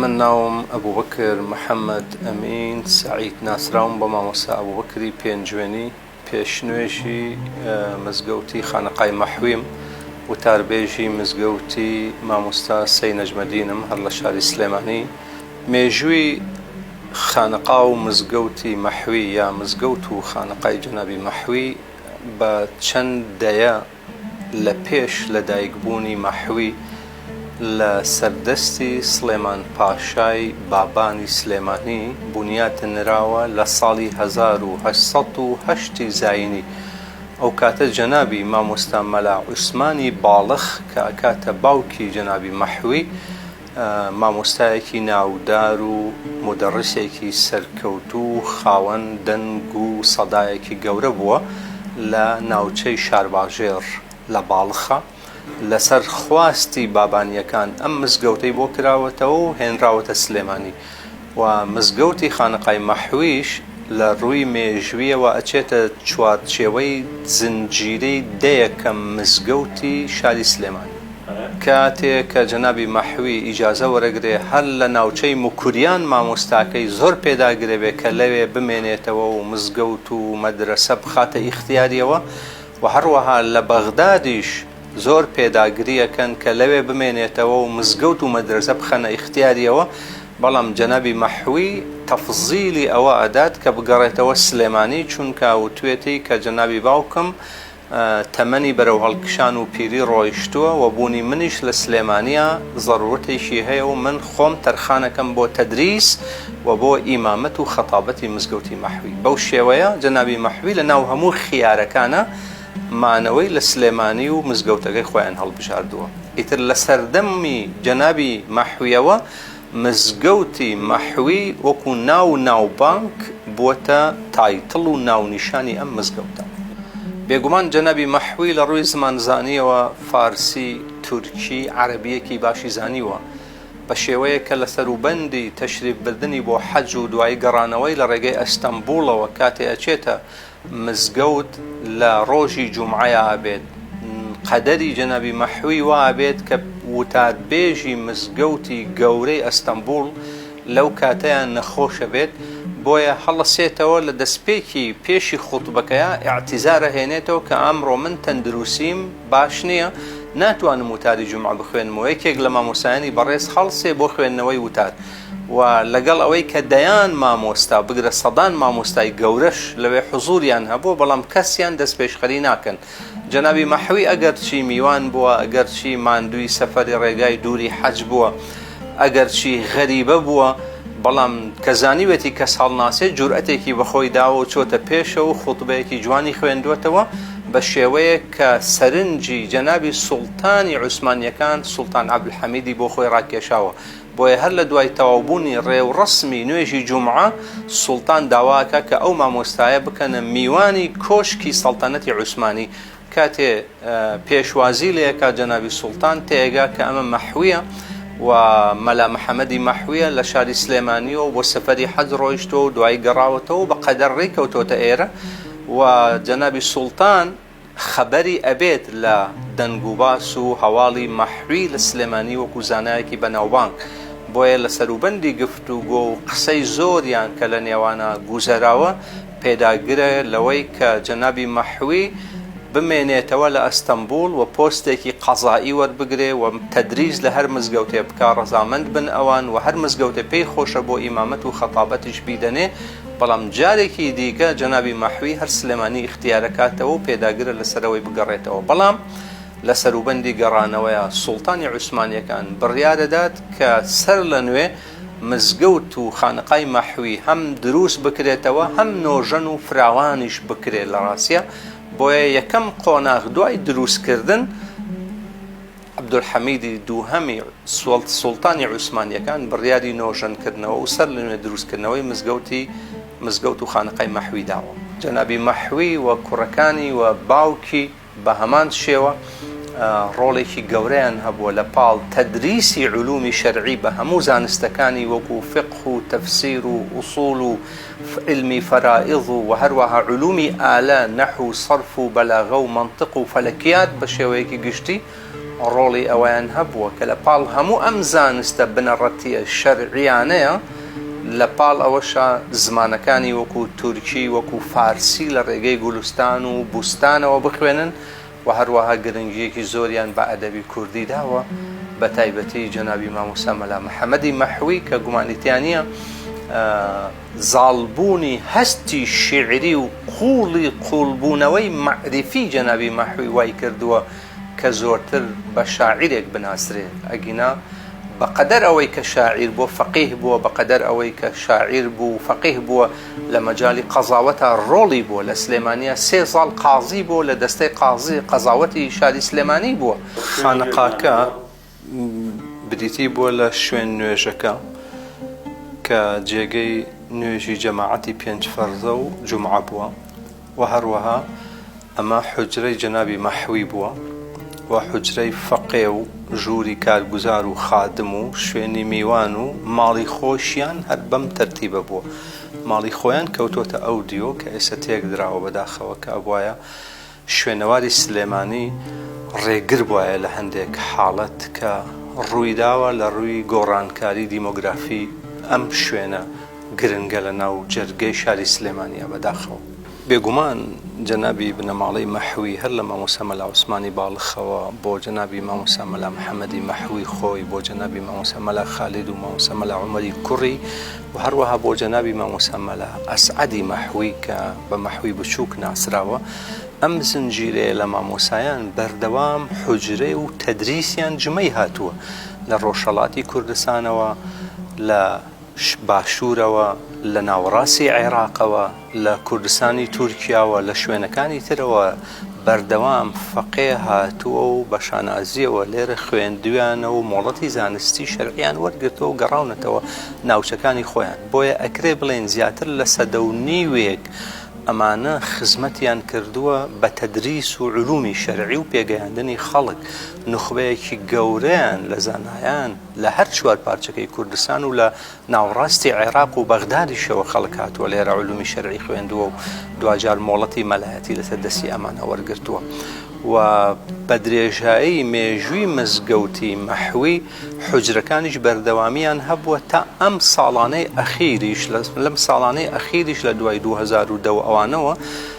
من ناوم ئەبوبەکر محەمەد ئەمین سەعید ناسراوم بە مامۆستا ئەبوبەکری پێنجوێنی پێش نوێژی مزگەوتی خانەقای مەحویم وتاربێژی مزگەوتی مامۆستا سەی نەجمەدینم هەر لە شاری سلێمانی مێژووی خانەقا و مزگەوتی مەحوی یا مزگەوت و خانەقای جەنابی مەحوی بە چەند دەیە لە پێش لە دایک بوونی مەحوی لە سەر دەستی سڵێمان پاشای بابانی سلێمانی بونیات نراوە لە ساڵی هەزار و هەشت سەد و هەشت ی زاینی ئەو کاتە جەنابی مامۆستا مەلا عوسمانی باڵخ کە ئەکاتە باوکی جەنابی مەحوی مامۆستایەکی ناودار و مودەڕیسێکی سەرکەوتوو و خاوەن دەنگ و سەدایەکی گەورە بووە لە ناوچەی شارباژێڕ لە باڵخە، لەسەر خواستی بابانییەکان ئەم مزگەوتەی بۆ کراوەتەوە و هێنراوەتە سلێمانی. و مزگەوتی خانەقای مەحویش لە ڕووی مێژوویەوە ئەچێتە چوارچێوەی زنجیرەی دەیەکە مزگەوتی شاری سلێمانی. کاتێ کە جەنابی مەحوی ئیجازە وەرەگرێ هەر لە ناوچەی موکریان مامۆستاکەی زۆر پێداگرێ بێ کە لەوێ بمێنێتەوە و مزگەوت و مەدرەسە بخاتە ئیختیاریەوە و هەڕوەها لە بەغدادیش زۆر پێداگری ئەکەن کە لەوێ بمێنێتەوە و مزگەوت و مەدرەسە بخەنە ئیختیاریەوە بەڵام جەنابی مەحوی تەفزیلی ئەوە ئەدات کە بگەڕێتەوە سلێمانی چونکە وتوێتی کە جەنابی باوکم تەمەنی بەرەو هەڵکشان و پیری ڕۆیشتووە وە بوونی منیش لە سلێمانیە زەرورەتێکی هەیە و من خۆم تەرخانەکەم بۆ تەدریس و بۆ ئیمامەت و خەتابەتی مزگەوتی مەحوی بەو شێوەیە جەنابی مەحوی لە ناو هەموو خیارەکانە مانەوەی لە سلێمانی و مزگەوتەکەی خۆیان هەڵبژاردووە ئیتر لە سەردەمی جەنابی مەحویەوە مزگەوتی مەحوی وەکو ناو و ناوبانگ بووەتە تایتڵ و ناونیشانی ئەم مزگەوتە بێگومان جەنابی مەحوی لە ڕووی زمانزانیەوە فارسی تورکی عەرەبیەکی باشی زانیوە بە شێوەیە کە لە سەروبەندی تەشریف بردنی بۆ حەج و دوایی گەڕانەوەی لە ڕێگەی ئەستەمبوڵەوە کاتێ ئەچێتە مزگەوت لە ڕۆژی جومعەیا ئەبێت قەدەری جەنابی مەحوی وا ئەبێت کە وتاربێژی مزگەوتی گەورەی ئەستەمبوڵ لەو کاتەیا نەخۆش بێت بۆیە هەڵەسێتەوە لە دەسپێکی پێشی خوتبەکەیا ئیعتیزار ئەهێنێتەوە کە ئەمڕۆ من تەندروسیم باش نیە ناتوانم وتاری جومعە بخوێنمەوە یەکێک لە مامۆستایانی بەڕێز هەڵسێ بۆ خوێندنەوەی وتار و لەگەڵ ئەوەی کە دەیان مامۆستا بگرە سەدان مامۆستای گەورەش لەوێ حزووریان هەبووە بەڵام کەسیان دەستپێشخەری ناکەن جەنابی مەحوی ئەگەرچی میوان بووە ئەگەرچی ماندووی سەفەری ڕێگای دووری حەج بووە ئەگەرچی غەریبە بووە بەڵام کە زانیوێتی کەس هەڵناسێ جورئەتێکی بە خۆی داوە و چۆتە پێشەوە و خوتبەیەکی جوانی خوێندووەتەوە بە شێوەیەک کە سەرنجی جەنابی سوڵتانی عوسمانییەکان سوڵتان عەبدولحەمیدی بۆ خۆی ڕاکێشاوە بۆیە هەر لە دوای تەواوبوونی ڕێوڕەسمی نوێژی جومعە، سوڵتان داواکا کە ئەو مامۆستایە بکەنە میوانی کۆشکی سەڵتەنەتی عوسمانی، کاتێ پێشوازی لێکا جەنابی سوڵتان تێگا کە ئەمە مەحویە و مەلا محەمەدی مەحویە لە شاری سلێمانیەوە بۆ سەفەری حەج ڕۆیشتوە و دوایی گەڕاوەتەوە و بە قەدەر ڕێی کەوتۆتە ئێرە و جەنابی سوڵتان خەبەری ئەبێت لە دەنگ و باس و هەواڵی مەحوی لە سلێمانی وەکو زانایەکی بەناوبانگ بۆیە لە سەروبەندی گفتوگۆ و قسەی زۆریان کە لە نێوانا گوزەراوە پێداگرە لەوەی کە جەنابی مەحوی بمێنێتەوە لە ئەستەمبوڵ و پۆستێکی قەزائی وەربگرێ و تەدریس لە هەر مزگەوتێ بکا ڕەزامەند بن ئەوان و هەر مزگەوتێ پێی خۆشە بۆ ئیمامەت و خەتابەتیش بیدەنێ بەڵام جارێکی دیکە جەنابی مەحوی هەر سلێمانی ئیختیارەکاتەوە و پێداگرە لەسەرەوەی بگەڕێتەوە بەڵام لە سەروبەندی گەڕانەوەیا سوڵتانی عوسمانیەکان بڕیارەدات کە سەر لە نوێ مزگەوت و خانەقای مەحوی هەم دروست بکرێتەوە هەم نۆژەن و فراوانیش بکرێت لە ڕاستیا بۆیە یەکەم قۆناغ دوای دروست کردن عەبدولحەمیدی دووهەمی سوڵت سوڵتانی عوسمانییەکان بڕیاری نۆژەنکردنەوە و سەر لەنوێ دروستکردنەوەی مزگەوتی مزگەوت و خانەقای مەحوی داوە. جەنابی مەحوی و کوڕەکانی و باوکی بە هەمان شێوە ڕۆڵێکی گەورەیان هەبووە لە پاڵ تەدریسی علومی شەرعی بە هەموو زانستەکانی وەکوو فقه و تەفسیر و ئوصول و علمی فەرائض و هەروەها علومی ئالە، نەحو، صرف و بەلاغە و مەنتق و فەلەکیات بە شێوەیەکی گشتی ڕۆڵی ئەوەیان هەبووە کە لە پاڵ هەموو ئەم زانستە بنەڕەتییە شەرعییانەیە لە پاڵ ئەوەشا زمانەکانی وەکوو تورکی وەکوو فارسی لە ڕێگەی گولستان و بوستانەوە بخوێنن و هەروەها گرنگییەکی زۆریان بە ئەدەبی کوردی داوە، بە تایبەتی جەنابی مامۆستا مەلا محەمەدی مەحوی کە گومانی تیا نییە زاڵبوونی هەستی شیعری و قووڵی قووڵبوونەوەی مەعریفی جەنابی مەحوی وای کردووە کە زۆرتر بە شاعیرێک بناسرێ ئەگینا بە قەدەر ئەوەی کە شاعیر بووە فەقیه بووە بە قەدەر ئەوەی کە شاعیر بوو فەقیه بووە لە مەجالی قەزاوەتا ڕۆڵی بووە لە سلێمانیا سێ زاڵ قازی بۆ لە دەستەی قازی قەزاوەتی شاری سلێمانی بووە. خانەقاکە بریتی بووە لە شوێن نوێژەکە کە جێگەی نوێژی جەماعەتی پێنج فەرزە و جومعە بووە. وە هەروەها ئەمە حوجرەی جەنابی مەحوی بووە وە حوجرەی فەقێ و ژووری کارگوزار و خادم و شوێنی میوان و ماڵی خۆشیان هەر بەم تەرتیبە بووە ماڵی خۆیان کەوتۆتە ئەو دیۆ کە ئێستا تێک دراوە بەداخەوە کە ئەبوایە شوێنەواری سلێمانی ڕێگر بوایە لە هەندێک حاڵەت کە ڕوویداوە لە ڕووی گۆڕانکاری دیمۆگرافی ئەم شوێنە گرنگە لە ناو جەرگەی شاری سلێمانیە بەداخەوە. بێگومان جەنابی بنەماڵەی مەحوی هەر لە مامۆستا مەلا عوسمانی باڵخەوە بۆ جەنابی مامۆستا مەلا محمدی مەحوی خۆی بۆ جەنابی مامۆستا مەلا خالید و مامۆستا مەلا عومەری کوڕی و هەروەها بۆ جەنابی مامۆستا مەلا ئەسعەدی مەحوی کە بە مەحوی بچوک ناسراوە ئەم زنجیرەیە لە مامۆسایان بەردەوام حوجرەی و تەدریسیان جمەی هاتووە لە ڕۆژهەڵاتی کوردستانەوە لە باشوورەوە، لە ناوەڕاستی عێراقەوە، لە کوردستانی تورکیاوە، لە شوێنەکانی ترەوە بەردەوام فەقێ هاتووە و بە شانازییەوە لێرە خوێندوویانە و مۆڵەتی زانستی شەرعییان وەرگرتووە و گەڕاونەتەوە ناوچەکانی خۆیان، بۆیە ئەکرێ بڵێین زیاتر لە سەدە و نیوێک ئەمانە خزمەتیان کردووە بە تەدریس و علومی شەرعی و پێگەیاندنی خەڵک، نوخبەیەکی گەورەیان لە زانایان. لە هەر چوار پارچەکەی کوردستان و لە ناوەڕاستی عێراق و بەغدادیشەوە خەڵک هاتووە لێرە علومی شەرعی خوێندووە و دواجار مۆڵەتی مەلایەتی لەسەر دەستی ئەمانە وەرگرتووە و بە درێژایی مێژووی مزگەوتی مەحوی حجرەکانیش بەردەوامیان هەبووە تا ئەم ساڵانەی ئەخیریش لەم ساڵانەی ئەخیریش لە دوای 2010 ئەوانەوە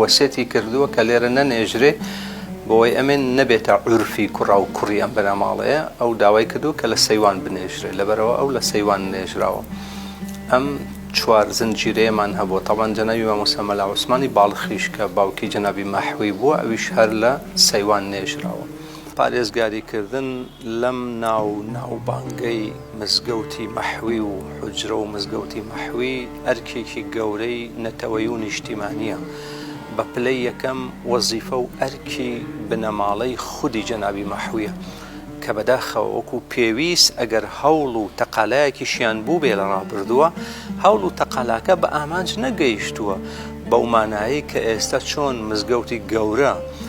وەسێتی کردووە کە لێرە نەنێژرێ بۆوەی ئەمن نەبێتە عورفی کوڕا و کوڕی ئەم بنەماڵەیە ئەو داوای کردووە کە لە سەیوان بنێژرێ لەبەرەوە ئەو لە سەیوان نێژراوە ئەم چوار زنجیرەیەمان هەبووە تاوان جەنابی مامۆستا مەلا عوسمانی باڵخیش کە باوکی جەنابی مەحوی بووە ئەویش هەر لە سەیوان نێژراوە. پارێزگاریکردن لەم ناو و ناوبانگەی مزگەوتی مەحوی و حوجرە و مزگەوتی مەحوی ئەرکێکی گەورەی نەتەوەیی و نیشتیمانییە، بە پلەی یەکەم وەزیفە و ئەرکی بنەماڵەی خودی جەنابی مەحویە، کە بەداخەوە وەکو پێویست ئەگەر هەوڵ و تەقالایەکیشیان بووبێ لە ڕابردووە، هەوڵ و تەقالاکە بە ئامانج نەگەیشتووە، بەو مانایەی کە ئێستا چۆن مزگەوتی گەورە،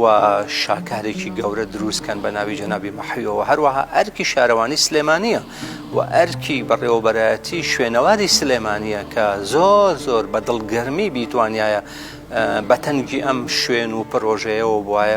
و شاکارێکی گەورە دروست کەن بە ناوی جەنابی مەحویەوە هەروەها ئەرکی شارەوانی سلێمانیە و ئەرکی بەڕێوەبەرایەتی شوێنەواری سلێمانیە کە زۆر زۆر بە دڵگەرمی بیتوانایە بەتەنگی ئەم شوێن و پرۆژەیەوە بواە